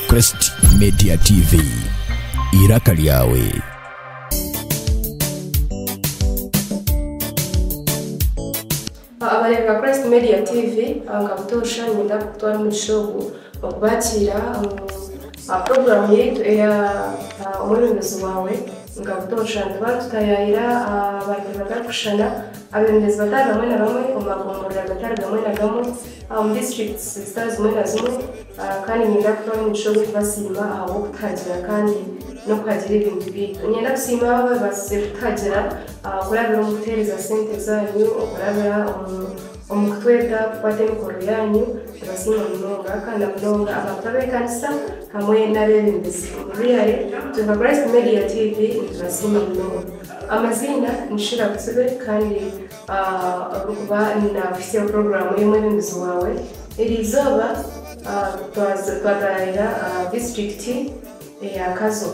Crest Media TV. Iraka lyawe. abareeba christ media tv abankabutoosha ninyenda kutwara omugisha ogu okubakiira aha puroguramu yaitu eya ah, omwebembezi waawe nkabutoosha nituba nitutayayira abantu batarikushushana abebembezi batari bamwe na bamwe omu magomborero gatari gamwe na gamwe omu districts zitari zimwe na zimwe kandi niinyenda kutuha omugisha ogw'okubasiima ahabw'okutuhagira kandi n'okuhagira ebintu byaitu. Niinyenda kusiima abo abaabaasize kutuhagira kurabira omu kutuheereza sente zaanyu, okurabira omu kutweta kukwata emikoro yaanyu. Nibasiima munonga kandi na munonga abantu ab'ekanisa hamwe n'abeebembezi omu bwire bwa Christ Media TV nitubasiima munonga. Amaziina ni Shira Butsibe kandi Ahabw'okuba naakuhisya puroguraamu y'omwebembezi waawe. Eri izooba twataayaayira disiturikiti eya Kazo.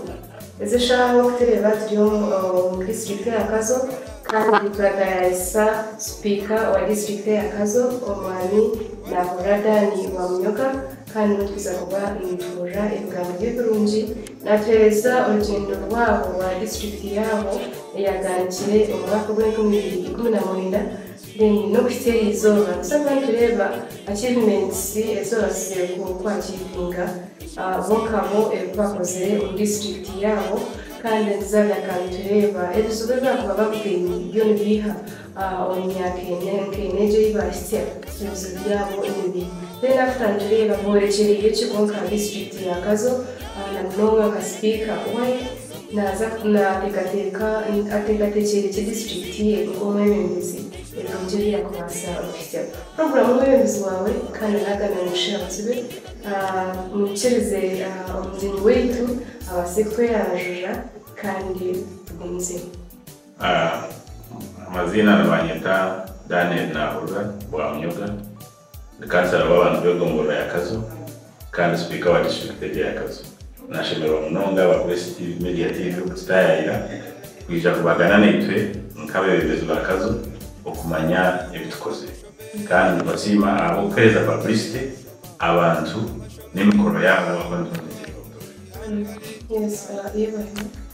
Ezi eshaaha nk'oku tureeba turi omu disiturikiti eya Kazo kandi turataayaayisa sipiika wa disiturikiti eya Kazo, Omwami Nahurira Dan Rwamunyoka. Kandi obu turiza kuba nituburira ebigambo bye ebirungi, natuhereza orugyendo rwabo rwa disiturikiti yaabo eyaganikire omu mwaka ogwa enkumi ibiri ikumi na mwenda, then nokuhitsya aha izooba nituza kuba nitureeba achievements ezi babaasize ku ku achievinga bo nka bo ebi bakozire omu disiturikiti yaabo, kandi nituza kugaruka nitureeba ebizibu ebi bakuba babugaine byo nibiiha Omu myaka ena nk'ena egyo ei baahitsya, ebizibu byabo ni bibi. Then after nitureeba boorekyereire ki kwonka aha disiturikiti ya Kazo na munonga nka sipiika we naaza naateekateeka ateekateekyeire ki disiturikiti ye nk'omwebembezi ebirungi ebi yaakubaasa kuhitsya. Puroguraamu omwebembezi waawe kandi anaagana ngu shi abatsibe muhikiirize omugyenyi waitu abaase kutweraajuurira kandi tugumizeyo. Amaziina nibanyeta Daniel Nahurura Bwamunyoga, ndi kansara w'abantu b'egombolola ya Kazo kandi sipiika wa disiturikiti egyo ya Kazo. Nashemererwa munonga abakurisiti b'Ebi Media TV okututayayira kwija kubagana naitwe nk'abebembezi ba Kazo okumanya ebi tukozire. Kandi nibasiima ahabw'okuhereza paburisite abantu n'emikoro yaabo ahu nibatezereera obutoosha.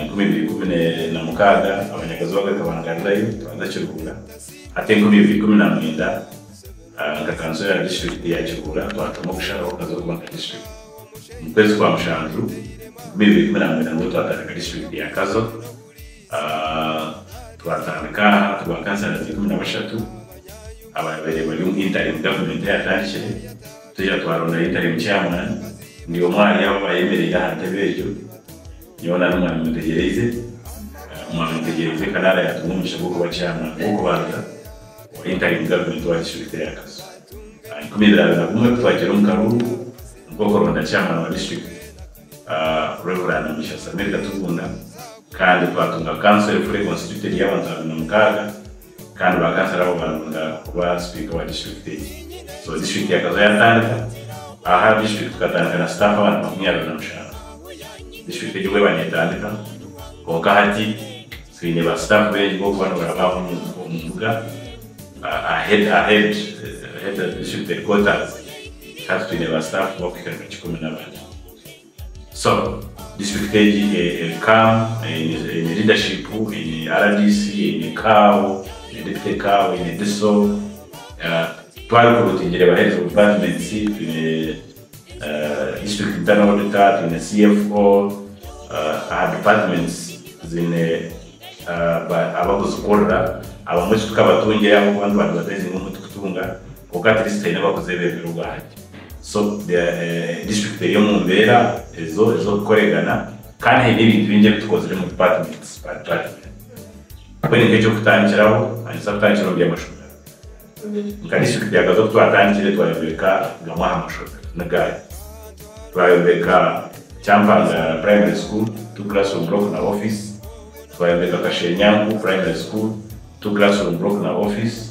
Enkumi ibiri ikumi na mukaaga abanyagazi baabo bakabangarirayo, nikabanza Kiruhura. Hati enkumi ibiri ikumi na mwenda, nka Kansoro ya Disiturikiti ya Kiruhura twatuma okushaho nkaza okuba nka Disiturikiti. Omu kwezi kwa mushanju enkumi ibiri ikumi na mwenda nibwo twatandika Disiturikiti ya Kazo. Twatandika aha turi ba Kansalas ikumi na bashatu abaabaire bari omu Intarim Gavumenti eyatandikire. Twija twaronda ahi ntari mu kyamara. Ndi omu ahari abo ayemereire aha ntebe egyo. Nyowe nari omwami mutegyereize. Omwami mutegyereize kanaara yaatuha omugisha gw'okuba kyamara w'okubanza owahi ntari mu gavumenti owa disiturikiti eya Kazo. Aha ikumi ibiri abiri na gumwe ku twagiire omu karuuru nikwo kuronda kyamara wa disiturikiti, Rev. Mugisha Samuel Katugunda, kandi twatunga kanso erifure, konsitityutenti, y'abantu abiri na mukaaga. Kandi bakasira aho baronda kuba sipiika wa disiturikiti egyo. So disiturikiti yakaza yatandika. Aha disiturikiti tukatandika na sitaafu abantu makumi abiri na mushanju disiturikiti egyo obweba netandika. Kwonka hati twine ba sitaafu baingi bokuba norabaho omu mbuga ahead of disiturikiti headquaters. Hati twine ba sitaafu bakuhika nka kikumi nabana. So district egi eri calm, eine leadership, eine rdc, eine cow, eine deputy cow, eine diso, twaba recruitingire abaheereza omu departments, twine district internal auditor, twine cfo, aha departments ziine abakuzikurira, abamwe eki tukabatungire ahabw'okuba nituba advertisinga omu tukutunga. Kwonka Kristo aine abakuza ebiremire obwangye. So, disiturikiti eri omu mbeera ezo ez'okukoregana, kandi haine ebintu bingi ebi tukozire omu dipatimenti ba department. Mbwenu nk'eky'okutandikiraho, manyisa kutandikira omu by'amashomero. Nka disiturikiti ya Gaza oku twatandikire twayombeka gamwe aha mashomero, niga aga, twayombeka Kyampangara Primary School, two classroom block na office, twayombeka Kashenyanku Primary School, two classroom block na office,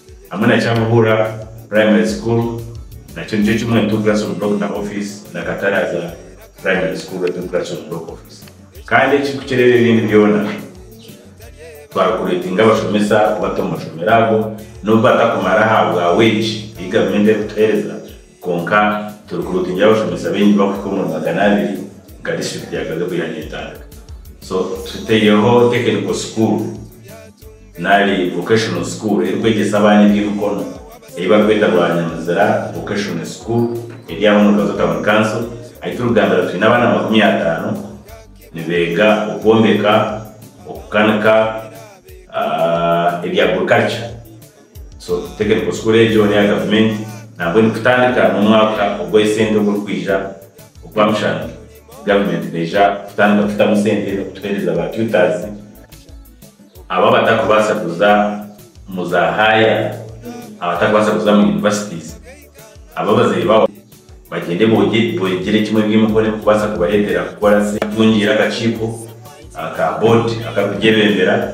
Hamwe na Kyamuhura Primary School nakyo nikyo kimwe Tugrasom Block na Office na Kataraza Primary School e Tugrasom Block Office kandi ekirikukyerera ebindi byona twari kuretinga abashomesa kubata omu mashomero ago nobu batakumara ahabwa wage eyi gavumenti erikutuhereza Kwonka turikureeba twine abashomesa baingi barikuhika omuri magana abiri nka disiturikiti ya Gaza oku yaaba neetaaga. So tuteireho tekiniko sukuuru nari vokeshono sukuuru erikwegyesa abaana eby'emikono ei barikweta Rwanyamizira Vokeshono Sukuuru eri aha omuri Gazo Tawuni Kanso ahi turikugambira twine abaana makumi ataano nibeega okwombeka, okukanika, ebya agurikaruca. So technical school egyo neya gavumenti nabwo eri kutandika nomwaka ogwe sente oguri kwija ogwa mushana gavumenti neija kutandika kutamu sente kutuhereza ba tutors abo abatari kubasa kuza mu za higher abatari kubasa kuza mu universities abo abazaire babo bagyende bogyere kimwe ebyemikono eri kubasa kubaretera kukora sente. Tutungiire akakiiko aka board akari kugyebembera.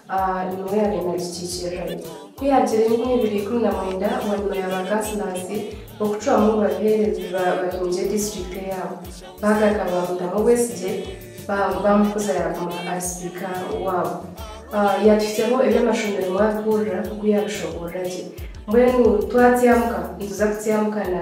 A Nimwo yaabaire naagikiikirira itwe. Ku yaagira enkumi ibiri ikumi na mwenda bwanyima ya baakasinansi b'okucwamu ngu babiheereze bahingye disiturikiti eyaabo, baagaruka baamuteeraho obwesigye baamukuza yaaguma ari sipiika waabo. A Yaatuhiseho eby'amashomero mwabihurira ku yaabishoboorora gye. Mbwenu twatyamuka nituza kutyamukana.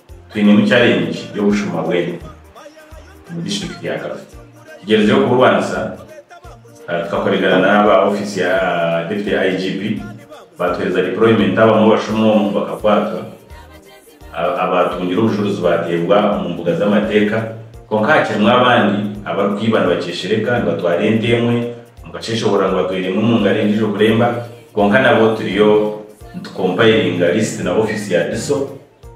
Twinemu challenge y'obushuma bw'ente omu district ya Kafi. Tugyerizire kuburwanisa tukakoregana n'aba office ya Deputy IGP batuhereza deployment abamwe abashuma omu bakakwatwa, abatungire obushuruzi bateebwa omu mbuga z'amateeka kwonka hakirimu abandi abarikwiba nibakyeshereka nibatwara ente emwe omu kasheshoborora ngu batwaire emwe omu ngaro endiijo kuremba kwonka nabo turiyo nitu compilinga list na office ya DISO.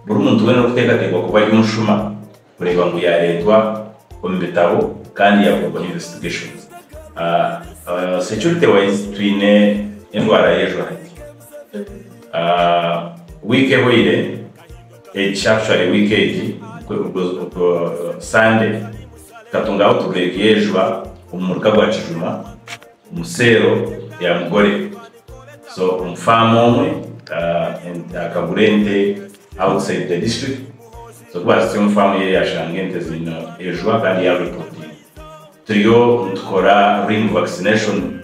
Buri muntu weena orikuteekateekwa kuba ari omushuma kureeba ngu yaareetwa omu bitabo kandi yaakorwaho investigation. Security wise twine endwara y'ejo hati. Wiiki ehoire, egi shaatushware wiiki egi, Sande, tukatunga outbreak y'ejwa omu muruka gwa Kijuma. omu seero ya mugore. So omu faamu omwe akagura ente outside the district, so kubahitsya omu faamu ye yashanga ente ziine ejwa kandi ya repotinga. Turiyo nitukora ring vaccination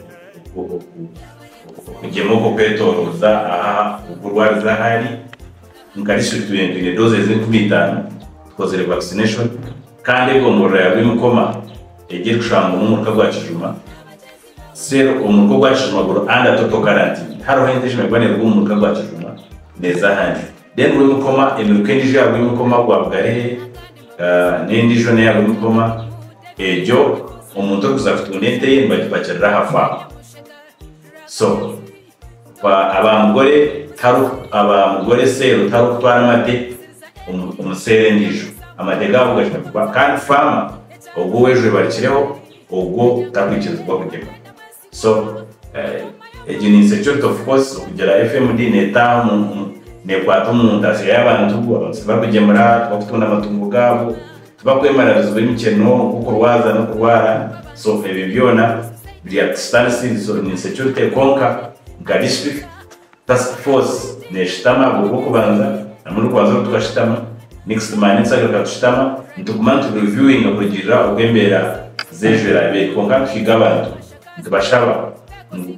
okugyema okwo kwetoroza aha oku orwarize ahu ari. Nka district twine twine doses enkumi itaano tukozire vaccination kandi egomborora ya Rwimukoma, Egi erikushangwa omu muruka gwa Kijuma cell omu muruka ogwa Kijuma guru under total quarantine. Hariho ente eshemererwa kuba neruga omu muruka gwa Kijuma neza ahandi. Then Rwemukoma, emiruka endijo eya Rwemukoma gwa Bugarere n'endijo n'eya Rwemukoma egyo omuntu orikuza kutunda ente ye nibagipakirira aha farm. So. Kwa aba mugore taru aba mugore seero tarukutwara amate omu omu seero endijo, amate gabo gashemeriire kuba kandi faama ogwo owejwebarikireho ogwo tarikwikirizibwa kugema. So egyo ni insecurity of course okugira FMD netaha omu omu nekwata omu ntaasya y'abantu, abantu tibarukugemura, tibarikutunda amatungo gabo. Tibakwemarariziibwa emikye noomu kukurwaza n'okurwara soofa ebyo byona biri aha Kistani Civil Solution Insecurity kwonka nka District Task Force neshutama aha bw'okubanza hamwe n'okubanza obu tukashutama next man nitugaruka kushutama nituguma nitu reviewinga kurugiirira oku embeera z'ejo eraabe eri kwonka nituhiga abantu nitubashaba ngu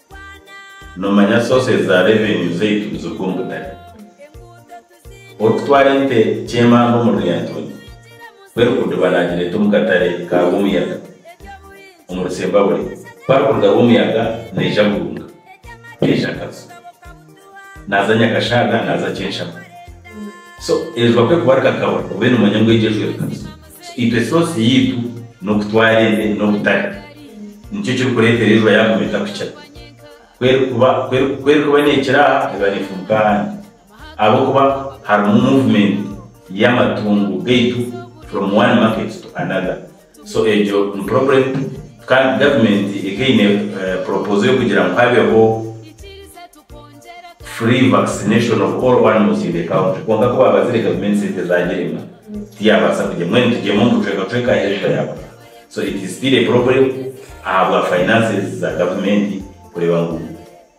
Nomanya sources za revenue zaitu nizirugwa omu butare. Orikutwara ente kyemamba omuri Lyantonde, ku erikuruga eba nagireta omu katare ka Rwomuyaga omuri Sembabure, ku arikuruga Rwomuyaga neija Burunga, neija Kazo, naza Nyakashaaga, naza Kyenshamu. So erijwa kwe kuba rikakabura, obe nomanya ngu egyo ejwire Kazo. Itwe esoosi yaitu n'oku twareebe n'okutari. Nikyo kirikureetera enjura yaaguma etakukira. Ku erikuba ku erikuba neekira aha, eba neefuumuka ahandi. Ahabw'okuba harimu movement y'amatungo gaitu from one market to another. So egyo ni problem kandi government eka eine proposal y'okugira ngu habeho. free vaccination of all animals in the county kwonka ku baabazire gavumenti sente zaagirema tiyaabaasa kugye mbwenu tugyemu ngu cweka cweka aheeru tayaakufa so it is still a problem ahabwa finances za gavumenti kureeba ngu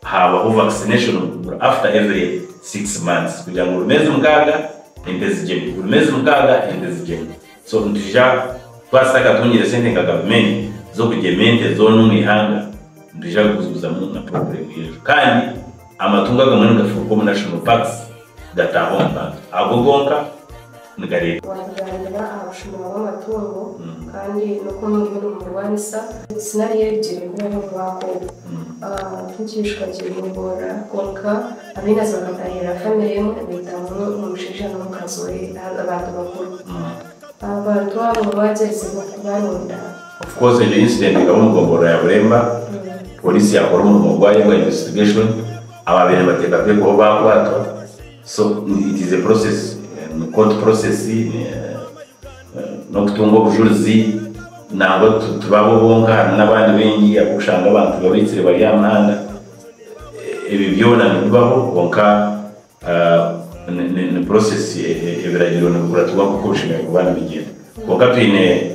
haabaho vaccination after every six months kugira ngu buri meezi mukaaga ente zigyemu buri meezi mukaaga ente zigyemu so nitwija twaba tutakatungire sente nka gavumenti z'okugyema ente zoona omu ihanga. Nitwija kuguzaguzamu na puroguramu y'enju kandi amatungo agamwe nigafuruka omu National Parks gataaha omu bantu. Ago gonka nigareetwa. Waatugambira aha bushuma bw'amatungo kandi n'oku omurimo nimugurwanisa. Sinario egiri kubaho omu mwaka ogu. Nk'ekiishuka ky'eby'obuhurira kwonka ab'enazo bakatahiirira famire emwe ebaitamu omushaija n'omukazi we, abantu bakuru. Abantu abo waagyerize kubaronda, Of course egyo incident ekaba omu gomborola ya Bulemba, Police yakora omurimo gwayo gwa investigation, ababire nibateekateekwaho baakwatwa, so it is a process, ni court process, n'okutunga obujurizi, nangwa tibaabo bonka harimu n'abandi baingi abu orikushanga abantu babaitsire bari aha muhanda, ebyo byona nibibaho kwonka ni process, ebiragiro nibikuratirwa nk'oku bishemereire kuba nibigyenda kwonka twine.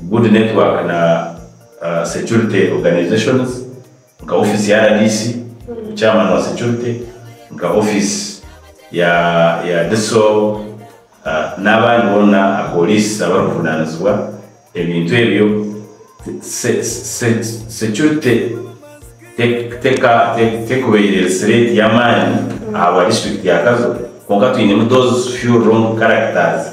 Good Network na Security Organisations nka ofiisi ya rdc, Chairman wa Security, nka ofiisi ya ya DISO n'abandi boona apoliisi abarikuvunaanizibwa ebintu ebyo. Security tekuba eri threat y'amaani ahabwa district ya Kazo kwonka twinemu those few wrong characters.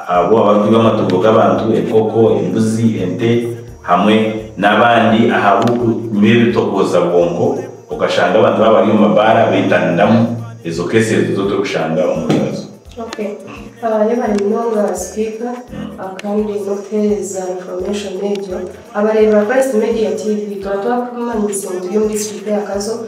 Abo abarikwiba amatungo g'abantu, enkoko, embuzi, ente, hamwe n'abandi ahabw'okunywa ebitogooza bwongo, okashanga abantu baaba bari omu mabaara beetaniramu ezo keesi ezo zo torikushanga omu bibazo. Okay. Yaba ni munonga sipiika kandi n'okutuheereza information egyo. Abareeba Christ Media TV, twaba twakumanyise ngu turi omu disiturikiti ya Kazo.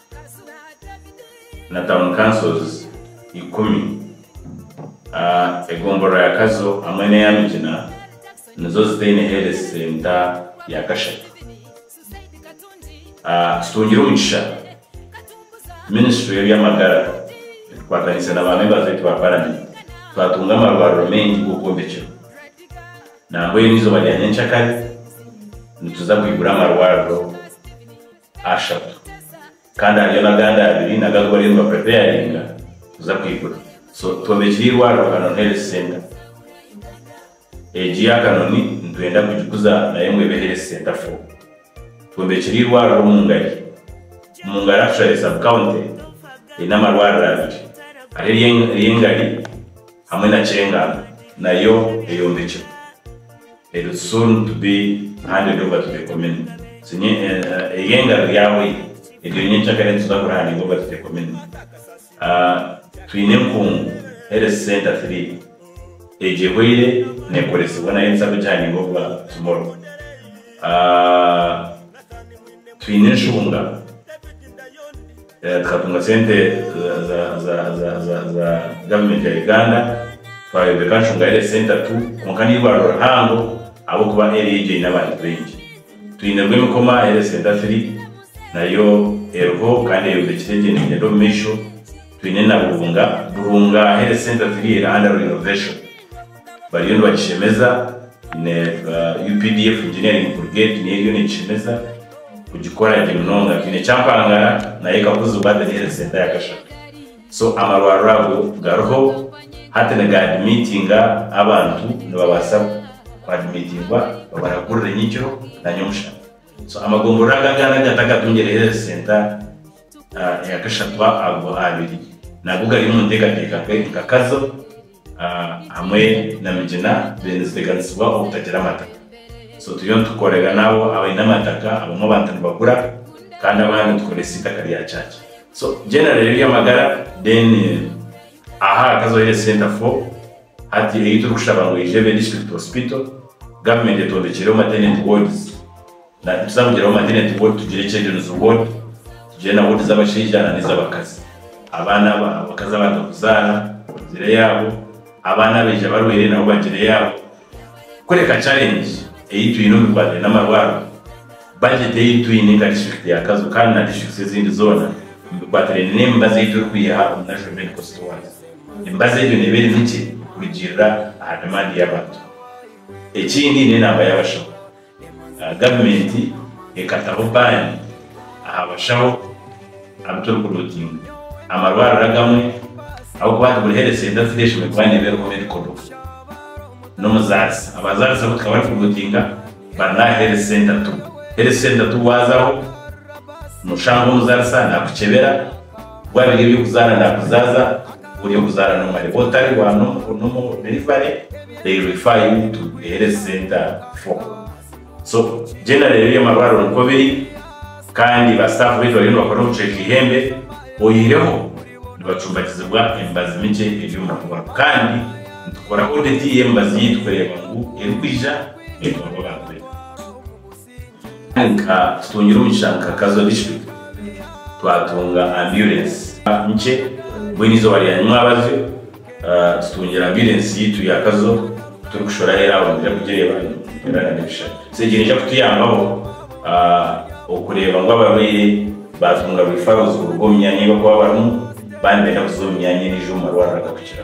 na Town Councils ikumi. Egombolola ya Kazo hamwe n'eya Migina nizo zitaine Health Center ya kashatu. Tutungire omugisha Ministry y'eby'amagara etukwatanise na ba Members baitu ba Parliament twatunga amarwariro maingi g'okwombekirwa nambwenu eizoba rya nyenkyakare nituza kwigura amarwariro. ashatu kandi hariyo nagandi abiri nago agu bariyo niba preparinga kuza kwigura so twombekire irwariro Kanoni health center egi ya Kanoni nitwenda kugikuza nayo ngu ebe health center for twombekire irwariro omungari omungari actually sub county eine amarwariro abiri hariho erye engari Hamwe na Kyenga nayo eyombekirwe eri soon to be handed over to the community eri engaro ryabwe eryo nyenkya kare nituza kuri handing over to the community twine enkungu health center three egyo ehweire nekoresibwa nayo nituza kugi handing over tomorrow twine enshunga. Tukatunga sente za government ya Uganda, twayombeka Nshunga Health Centre tu, kwonka neirwariro rihango ahabwokuba area egyo eine abantu baingi. Twine Rwemikoma Health Centre Firi, nayo eriho kandi eyombekire gye negyenda omu maisho. Twine na Burunga Burunga Health Centre Firi eri under renovation. bariyo nibagishemeza na updf Engineering Brigade nayo eriyo negishemeza kugikora gye munonga twine Kyampangara nayo ekakuzibwa the health center ya Gashaka so amarwariro ago gariho hati niga admittinga abantu nibabasa ku admittingwa babaragurire nyekiro na nyomushana so amagombolola aga agandi agatakatungire health center ya Gashaka ago abiri nago gari omu ntekateka nkakazo. hamwe na Migina then ziteganisibwa obutagira amataka so turiyo nitukorera naabo abaine amataka abamwe abantu nibagura kandi abandi nitukoresa itaka rya kyaki so generally ebyamagara then aha hakazaho health center four hati eyi turikushaba ngu eyije ebe district hospital government etondekyereho maternity wards. Nari tuza kugiraho maternity ward, tugire children's ward, tugire na ward z'abashaija na n'ez'abakazi. Abaana aba, abakazi abaaza kuzaara bagire eyaabo, abaana abaija barwaire nabo bagire eyaabo. Kureka challenge ei twine omu bikwatiraine n'amarwariro, budget ei twine nka district ya Kazo kandi na districts ezindi zoona omu bikwatiraine n'emibazi ei turikwiha omu National Medical Stores, emibazi egyo neeba eri mikye kurugiirira aha demand y'abantu. Ekindi n'enaamba y'abashaho. Gavumenti ekataho baani aha bashaho abu turikurootinga. Amarwariro agamwe ahabw'okuba nti buri Health Centre Fee eshemereire kuba neeba eriho Medical Doctor n'omuzaarisa. Abazaarisa abu tukaba turikurootinga bari n'aha Health Centre tu. Health Centre tu waazaho noshanga omuzaarisa naakukyebera, waabiire eby'okuzaara naakuzaaza. Ori okuzaara n'omwe reba otari wa n'omu n'omu delivery rero ifaa yu tu ehereze sente a for so generally ebya marwariro nikwo biri kandi ba staff beitu bariyo nibakora obucweka ihembe oyihireho nibacumbakizibwa emibazi mikye ebyo murakoraho kandi nitukora audit y'emibazi yeitu kureba ngu eri kwija neetwarwa abantu beitu. Kandi nka tutungire omugisha nka Kazo District twatunga ambulance nkye mbwenu eizooba rya nyima abazyo tutungire ambulance yaitu ya Kazo kuturikushora aheru aho niija kugireeba nitureeba na nebishushani so egyo neija kutuyambaho okureeba ngu abarwaire batunga referrals kuruga omu myanya ei bakuba barimu baba nibenda kuza omu myanya endiijo omu marwariro agakukira.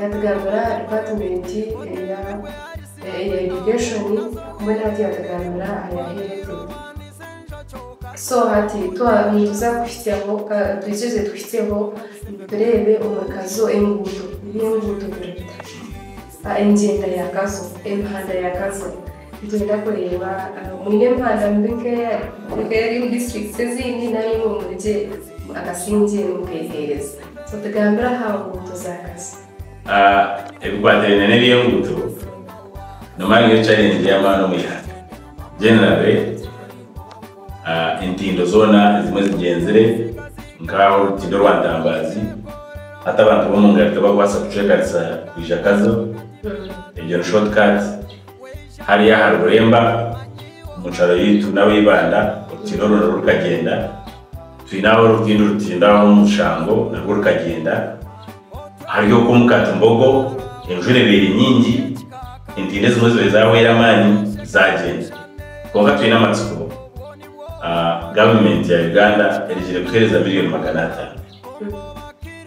Yatugambira aha dipaatimenti eya eya irrigation mbwenu hati yatugambira aha ya health. So hati twa nituza kuhitsyaho ka twikirize tuhitsyeho tureebe omuri Kazo enguuto ebi enguuto zirikuta, engyenda ya Kazo, emihanda ya Kazo. Niinyenda kureeba mwine Rwanda mu bika ebiri omu disiturikiti ezindi nari imwe muri gye akasingye erimu mukeeheereza. So tugambire aha nguuto za Kasa. Ebikwatiraine n'eby'enguuto nomara niyo chareengye y'amaani omu ihanga. Generally, entindo zoona ezimwe zigyenzire nk'aha orutindo rwa Ntambaazi, hati abantu b'omu ngari tibakubaasa kucwekanisa kwija Kazo, egyo ni short cut. Hariya aha ruremba omu kyaro yaitu naba Ibanda orutindo ruraba rurikagyenda. Twine aho orutindo rutindo aho omu Bushango narwo rukagyenda. Hariyo oku omu Katimbogo enjura ebaire nyingi entindo ezimwe zibaire zahweire amaani zagyenda. Kwonka twine amatsiko gavumenti ya Uganda erugire kuhereza miriyoni magana atano.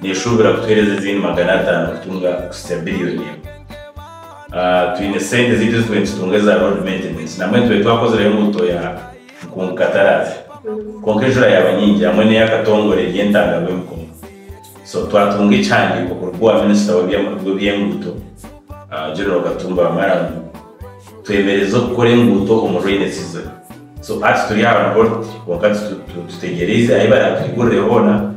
Neeshuubira kutuheereza ezindi magana ataano kutunga kuhitsya billion emwe. Twine sente ezaitu ezi twine nitutunga eza road maintenance namwe nitube twakozireho enguuto ya nkungu kataraaze kwonka enjura yaaba nyingi hamwe n'eya katongore eri entanga rw'emikongo. So twatunga ekihandiiko kuruga owa minister w'ebyenguuto General Katumba Wamala ngu. Twemereza okukora enguuto omu rainy season so hati turi aha report kwonka titutegyerize ahi baratwigurire hoona,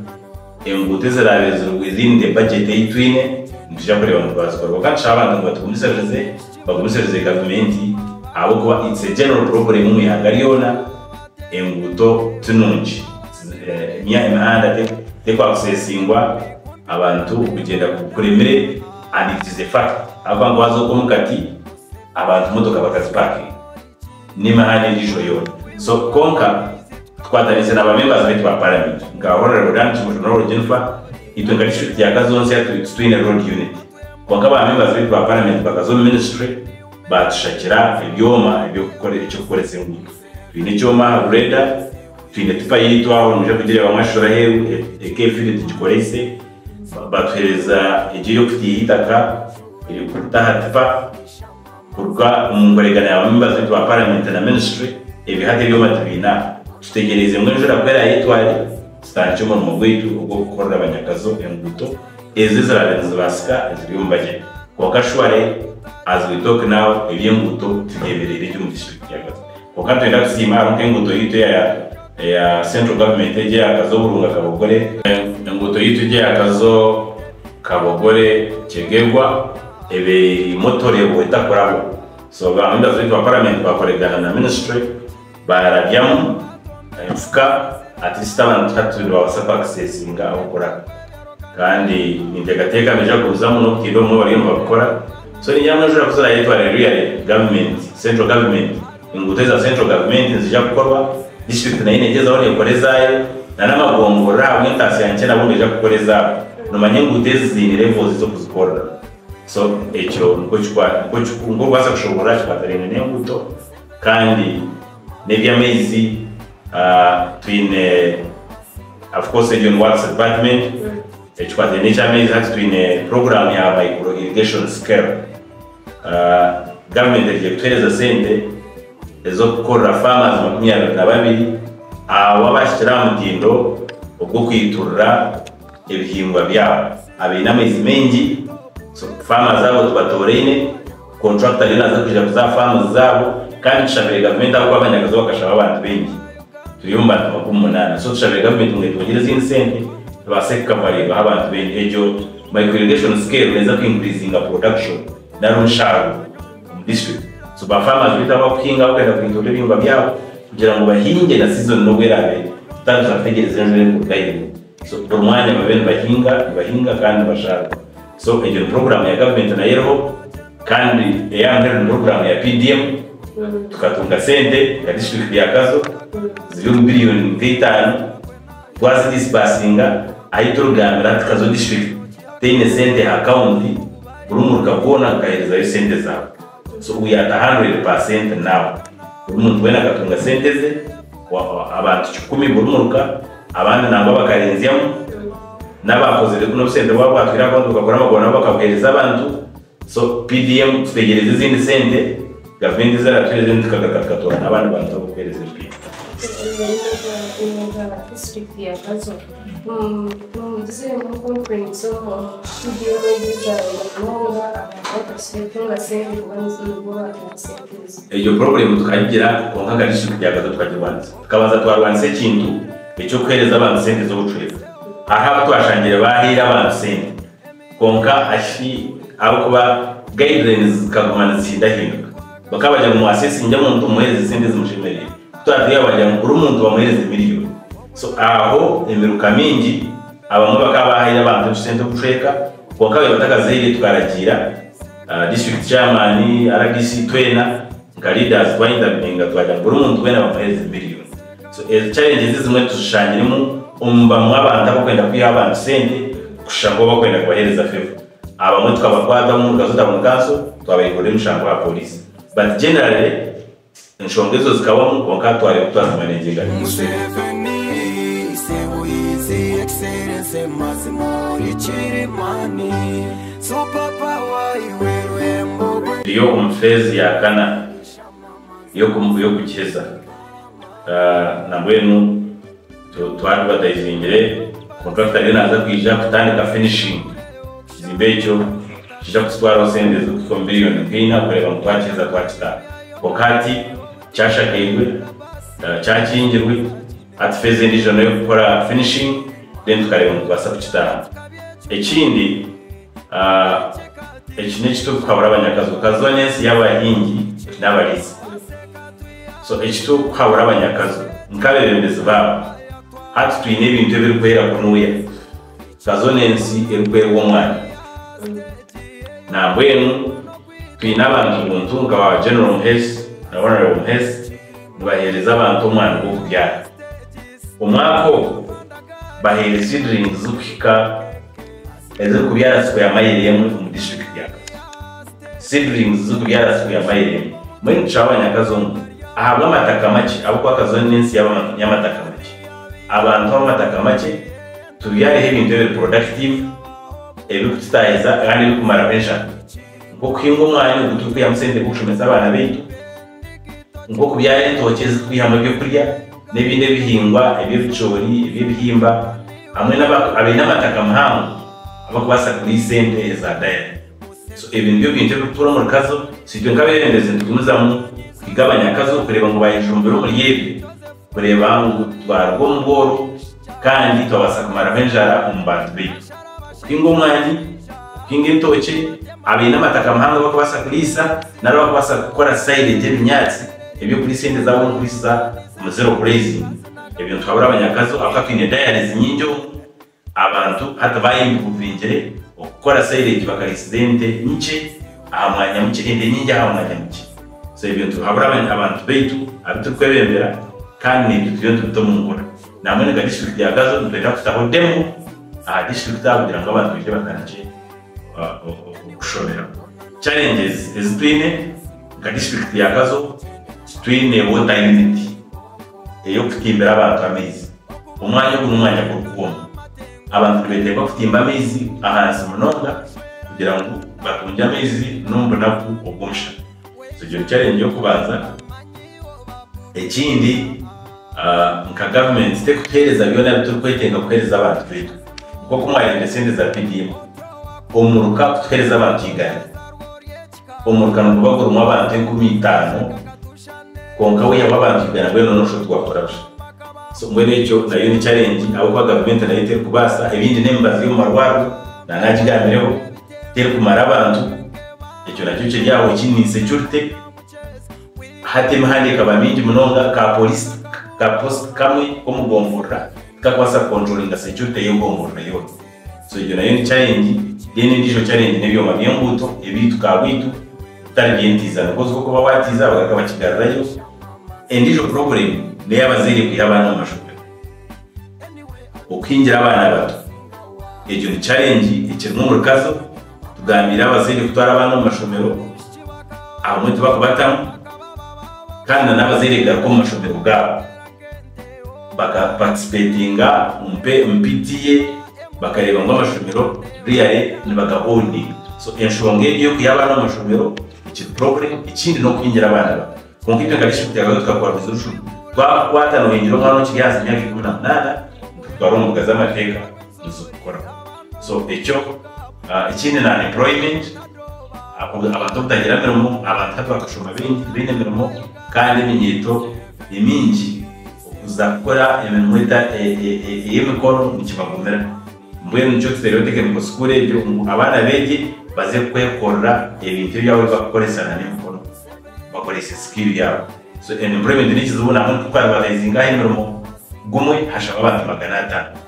enguuto ezirabire ziri within the budget ei twine nituja kureeba ngu twazikora kwonka nitushabe abantu ngu batugumisirize bagumisirize gavumenti ahabw'okuba it's a general problem omu ihanga ryoona enguuto ti nungi emihanda tekwakuseesingwa abantu kugyenda kuremire. Abikize efaka abu bangwaza oku omu kati abantu motoka bakazipakinga n'emihanda endijo yoona so konka tukwatanise na ba members baitu ba parliament nka Honourable Dan Kimocho na Honourable Jennifer itwe nka district ya Kazonsya titwine road unit konka ba members baitu ba parliament bakaza omu ministry batushakira ebyoma ebyokukora ekyokukoresa enguuto. Twine ekyoma aha grader, twine tipa yaitu aho nimwija kugireeba mwashishura aheeru eka eri fine tugikoreise. Baatuheereza egi ey'okutiiha eitaka erikuruta aha tipa kuruga omu nkoregana ya baamembazi baitu ba paramenti na minisitule. Ebyo hati ebyoma tubiine aha. Tutegyereize ngu enjura ku eraayetware tutandikye omurimo gwaitu ogw'okukorera abanyakazo enguuto. ezo eziraabe nizibaasika eziri omu bajeti kwonka shware as we talk now ebyenguuto tibyemereire gye omu district ya Gatsbo kwonka nitwenda kusiima hariho nk'enguuto yaitu eya eya central government egi eya Kazo Burunga Kabogore, enguuto yaitu egi eya Kazo Kabogore Kyegegwa ebeire erimu otureebo etakurabo so ba members baitu ba parliament bakoregana na ministry Baarabyamu enfuka ati sitaani hati nibabaasa kwakisesiinga ah'okura kandi ninteekateeka nibaija kuruzamu n'obutaire obumwe bariyo nibabukora so niinyija mbwenu eshwera kuza naayetwarira Rwiare government, central government, enguuto eza central government niziija kukorwa, district nayo neegyezaho neekora ezaayo na n'amagoongorora ahabw'entaasya nkye nabo nibaija kukora ezaabo noomanya enguuto ezi ziine levels z'okuzikora so ekyo nikwo kikwaata, nikwo orikubaasa kushoboorora aha kikwaatiraine n'enguuto. Kandi nebyamaizi twine of course egyo ni works department ekikwataine nekyamaizi hati twine program ya micro irrigation scale government erugire kutuhereza sente ezokukorera farmers makumi abiri na babiri abo abahikire aha mutindo ogwokwiturira ebihingwa byabo abaine amaizi maingi so farmers abo tubatooraine. Kontrakita ariyo naaza kugira ku za faamu zaabo kandi tushabire gavumenti ahabw'okuba abanyakazi bakashaba abantu baingi. Turi omu bantu makumi munaana so tushabire gavumenti ngu etwongyere ezindi sente tubaase kukavaringaho abantu baingi. Egyo Micro Irrigation Scale neeza ku increasinga production nari omushaaruro omu district. So ba farmers baitu abu barikuhinga barikugyenda kuhindura ebihingwa byaabo kugira ngu bahinge na season n'obu eraabe ere tutaabe nitwategyereza enjura erikuruga ahaiguru. So buri mwanya babe nibahinga, nibahinga kandi nibasharuka. So egyo ni puroguramu ya gavumenti nayo eriho kandi eya mbere ni puroguramu ya PDM. Tukatunga sente nka disiturikiti ya Kazo ziri omu biriyoni nka itaano, twazidisibasinga ahi turikugambiira hati Kazo disiturikiti teine sente aha kawunti, buri muruka goona gukaherezayo sente zaago. So uyu ata hundred per cent now buri muntu wena akatunga sente ze abantu kikumi buri muruka abandi nangwa bakarenzyamu nabakozire nobu sente bwaba bwatwire ahabwonki bukakora amaguru nabo bakabuhereza abantu so PDM tutegyereze ezindi sente gavumenti ezeratwiire then tukagaruka tukatora nabandi bantu abakuhereza empingu. Omu mwanya gwa Meeya wa District ya Gazoba. Egyo purobulemu tukagigira kwonka nka disiturikiti ya Gaza tukagirwanisa. Tukabanza twarwanisa ekintu eky'okuheereza abantu sente z'obucwezi. Hariho abu twashangire baahaire abantu sente Kwonka aha ki ahabw'okuba guidelines zikaguma nizihindahinduka. Bakaba bagira ngu mwatsya esingye omuntu mumuheereze esente ezimushemereire. Ku twatwire baagira ngu buri muntu bamuheereze miriyoni. So aho emiruka mingi, abamwe bakaba baahaire abantu ebisente obucweka kwonka abandi batakazihaire tukaragiira district chairman, rdc twena nka leaders twa interveninga twagira ngu buri muntu weena bamuheereze miriyoni. So ezo challenges ezimwe tuzishangiremu omu bamwe abantu abakwenda kwiha abantu sente kushusha nkobu bakwenda kubahereza favour. Abamwe tukabakwata omu Rugazu Town Council twabaigurira emishango aha police but generally enshonga ezo zikabamu kwonka hatwariho oku twazimaneginga nitushemwa. Rio omu phase ya kana. y'okukiheza. Nabwenu twaba tubataizingire, kontrakita ariyo naaza kwija kutandika finishing, ekizimbe ekyo nikiija kututwaraho sente ezirikuhika omu biriyoni nka ina kureeba ngu twakiheza twakitaara. Kwonka hati kyashakairwe, kyakingirwe. Hati feeza endiijo noyo kukora finishing then tukareeba nitubaasa kukitaaha. Ekindi eki n'eki turikuhabura abanyakazi okaziwa n'ensi y'abahingi n'abariitsi so eki turikuhabura abanyakazi nk'abebembezi baabo hati twine ebintu ebirikwera kunuya okaziwa n'ensi erikwerwa omwani nambwenu twine abantu buntu nka ba General Muheesi na Honourable Muheesi. nibaheereza abantu omwani gw'okubyara. Omwaka ogu, baheire seedlings zirikuhika ezirikubyara sikweya mayiro emwe omu disiturikiti ya Kazo. Seedlings zirikubyara sikweya mayiro emwe. Mbwenu nitushaba abanyakazo ngu ahabw'amataka makye, ahabw'okuba Kazo n'ensi y'abantu y'amataka makye, abantu ab'amataka makye, tubyareho ebintu ebiri productive, ebirikututaahiza kandi ebirikumaraho enjara, nk'okuhinga omwani ogu turikwihamu sente nk'okushomesa abaana baitu, nk'okubyara entookye ezirikwihamu eby'okurya n'ebindi ebihingwa eby'ebicoori, eby'ebihimba hamwe n'abantu abaine amataka mahango abu barikubaasa kuriisa ente eza dairy. So ebi nibyo bintu ebirikutuura omuri Kazo. Itwe nk'abeebembezi nitugumizamu kuhiga abanyakazo kureeba ngu baayejumbira omuri ebyo. kureeba ngu twaruga omu bworo kandi twabaasa kumaraho enjara omu bantu baitu. Okuhinga omwani, okuhinga entookye, abaine amataka mahango abarikubaasa kuriisa nari abarikubaasa kukora sairegi ebinyaatsi eby'okuriisa ente zaabo omu kuriisiza omu zero grazing. Ebyo nituhabura abanyakazi ahabw'okuba twine dairies nyingi omu. Abantu hati baayehinguririire okukora sairegi bakariisiza ente nkye aha mwanya mukye, ente nyingi aha mwanya mukye. So ebyo nitubihabura abantu baitu abu turikwebembera kandi n'ebyo turiyo nitubita omu nkora. Nambwenu nka disiturikiti ya Gazo nitwenda kutaho demo aha disiturikiti aha kugira ngu abantu baije batandikye okushomeraho. Challenges ezi twine nka disiturikiti ya Gazo, titwine water unit. ey'okutimbira abantu amaizi. Omwanya ogu n'omwanya gw'obukungu. Abantu nibeetenga kutimba amaizi ahansi munonga kugira ngu batungye amaizi n'omu bunaku obw'omushana. Egyo ni charengi y'okubanza. Ekindi, nka gavumenti terikutuheereza byona ebi turikwetenga kuheereza abantu baitu. Nk'oku mwareebire sente za PDM, omuruka kutuheereza abantu igana. Omurka niguba gurimu abantu enkumi itaano, kwonka waihamu abantu igana mbwenu noona oshusha oti gwakora busha. So mbwenu ekyo nayo ni challenge ahabw'okuba gavumenti nayo terikubaasa, ebindi n'emibazi y'omu marwariro na naagigambireho terikumara abantu, ekyo nakyo kiri aho ekindi ni insecurity, hati emihanda ekaba mingi munonga ka poliisi ka post kamwe k'omu gomvurira tikakwaasa ku controlinga security y'egomvurira yoona. So egyo nayo ni challenge. Then endiijo challenge n'ebyoma by'enguuto ebyaitu ka bwaitu bitari by'entiiza ahabw'okuba ozi ku okuba waatiiza bagaruka bakigarurayo. Endiijo problem n'ey'abazaire kwiha abaana omu mashomero. Okuhingira abaana bato egyo ni challenge ekirimu omurukazo. Tugambiire abazaire kutwara abaana omu mashomero abamwe tibakubatamu kandi na n'abazaire egaruka omu mashomero gaabo. baka participatinga omu PTEA bakareeba ngu amashomero really nibaga owning so enshonga egi ey'okuha abaana omu mashomero ekiri problem ekindi n'okuhingira abaana bato kwonka itwe nka district ya Karongi tukakora resolution twakukwata nohingira omwana okiri ahansi y'emyaka ikumi na munaana nikututwara omu mbuga z'amateeka nizo kukoraho so ekyo ekindi na employment abantu obutagira mirimo abantu hati bakashoma baingi tibaine mirimo. Kandi eminyeeto emingi okuza kukora emirimo ey'emikono nikibagumira. Mbwenu nikyo tuteereho tekeniko sukuuru egyo ngu abaana beegye baze kwekorera ebintu ebi baaba bari kukoresa n'emikono, bakorese sikiiru yaabo. So, empurementi n'ekizibu nahabw'okuba titwaribabeezinga aha emirimo gumwe hashaba abantu magana ataano.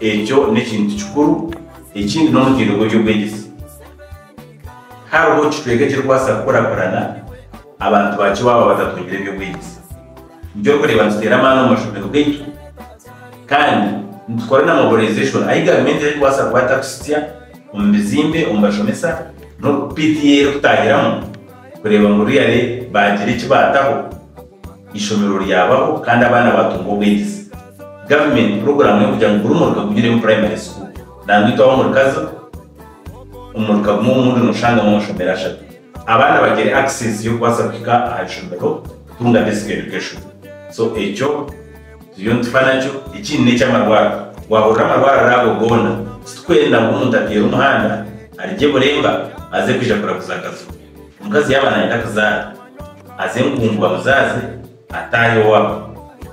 Ekyo n'ekintu kikuru. Ekindi n'omutindo gw'eby'obwegyese. Hariho kicweka ekirikubaasa kukurakurana abantu bakye waaba batatungire eby'obwegyese. Nikyo orikureeba nituteera amaani omu mashomero gaitu kandi nitukora na mobilization ahi gavumenti erikubaasa kuba etakuhitsya omu bizimbe, omu bashomesa n'oku PTA erikutaahiramu kureeba ngu really baagira eki baataho. eishomero ryabaho kandi abaana baatunga obwegyese. Gavumenti puroguraamu y'okugira ngu buri muruka gugireemu purayimari sikuuru. Nangwa itwe ab'omurikazi, omu muruka gumwe omu murundi nooshangamu amashomero ashatu. Abaana bagire akiseesi y'okubaasa kuhika aha ishomero kutunga basic education. So ekyo turiyo nitufa nakyo. Ekindi n'eky'amarwariro. Waahurira amarwariro ago goona, titurikwenda ngu omuntu ateera omuhanda, arye Buremba aze kwija kuraguza Kazoona. Omukazi yaaba naayenda kuzaara, aze enkungu bamuzaaze, ataahe owaabo.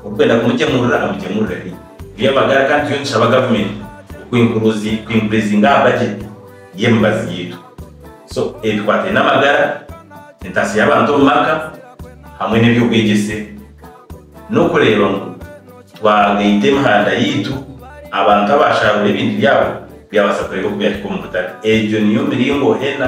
Orikwenda kumugyemurira, amugyemurire haihi. Eby'amagara kandi turiyo nitushaba gavumenti kwinkuruzi kwinkurizinga aha bajeti y'emibazi yaitu. So ebikwataine n'amagara, entaasya y'abantu omu maka hamwe n'eby'obwegyese n'okureeba ngu twagaita emihanda yaitu abantu abaasharuura ebintu byabo byabaasa kureeba oku byahika omu butare. Egyo niyo miringo ena.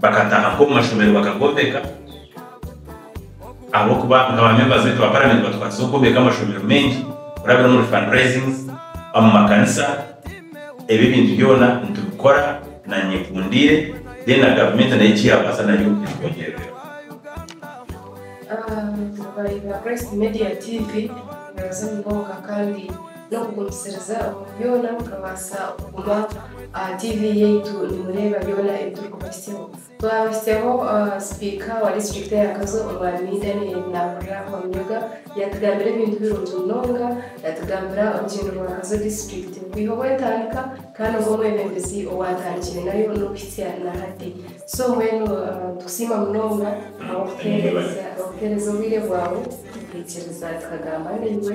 bakataaha nk'omu mashomero bakagombeka, ahabw'okuba nka ba members beitu ba paramenti batukwasize okwombeka amashomero maingi kurabira omuri fund raisings, omu makanisa, ebyo ebintu byona nitubikora na nyekundiire then na gavumenti nayo eki yaabaasa nayo etwongyereremu. Abareeba Christ Media TV, murabaasa munonga kandi. n'okugumisiriza omu byona mukabaasa kuguma aha TV yaitu nimureeba byona ebi turikubahitsyaho. Twabahitsyaho Sipiika wa Disiturikiti ya Kazo, Omwami Daniel Nahurira Rwamunyoga, yaatugambira ebintu birungi munonga. Yaatugambira orugyendo rwa Kazo Disiturikiti kwiha obu etandika, kandi ogu omwebembezi owaatandikire nayo n'okuhitsya na hati. So mbwenu nitukusiima munonga ahabw'okutuheereza obwire bwawe, tukaikiriza tukagamba naiwe.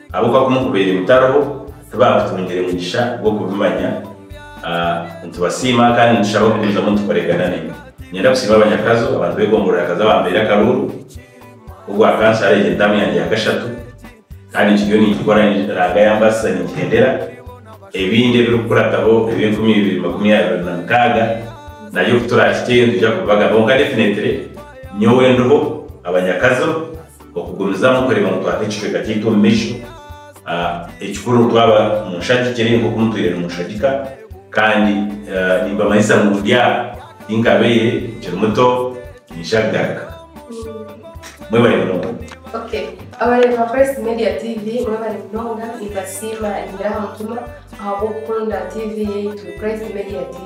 Abu ka kumukubaire mutariho, tibakutungire mugisha gw'okubimanya. Nitubasiima kandi nitushaba kugumizamu nitukoregana naimwe. Ninyenda kusiima abanyakazo, abantu b'egongorora Kazo abampeire akaruuru ku bwa kansara. Egi n'entaamu yangye ya kashatu kandi nkiriyo ningikora Ranga yambaasiza ningihendera. Ebindi ebirikukurataho ebi enkumi ibiri makumi abiri na mukaaga nabyo ku turakiteyo nitwija kubibagabaho. Kwonka definitely nyowe ndiho abanyakazo. Okugumizamu kureeba ngu twata ekicweka kyaitu omu maisho. Ekikuru nitwaba munshagikire nk'oku mutwire nimunshagika kandi nimbamanyisa ngu ndi aha ahi nkabaire nkiri muto ninshaba bigaruka. Mwebare munonga. Ok abareeba Christ Media TV mwebare munonga nimbasiima nyiingira aha mutima ahabw'okukunda TV yaitu Christ Media TV.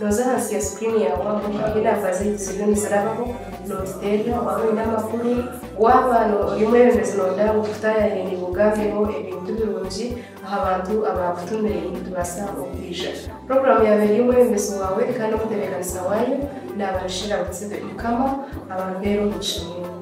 Nooza ahansi ya screen ya Wamu hamwe na namba z'ebizibu nizirabaho notuterera waaba oine amakuru, waaba ori omwebembezi noyenda ngu tukutaayayire naiwe ogambeho ebintu birungi aha bantu abaakutumire nitubaasa okwija. Puroguraamu yaaba eri omwebembezi waawe kandi omutebeekanisa waayo naaba Michelle Arutsebe. Mukama abampere omugisha mwingi.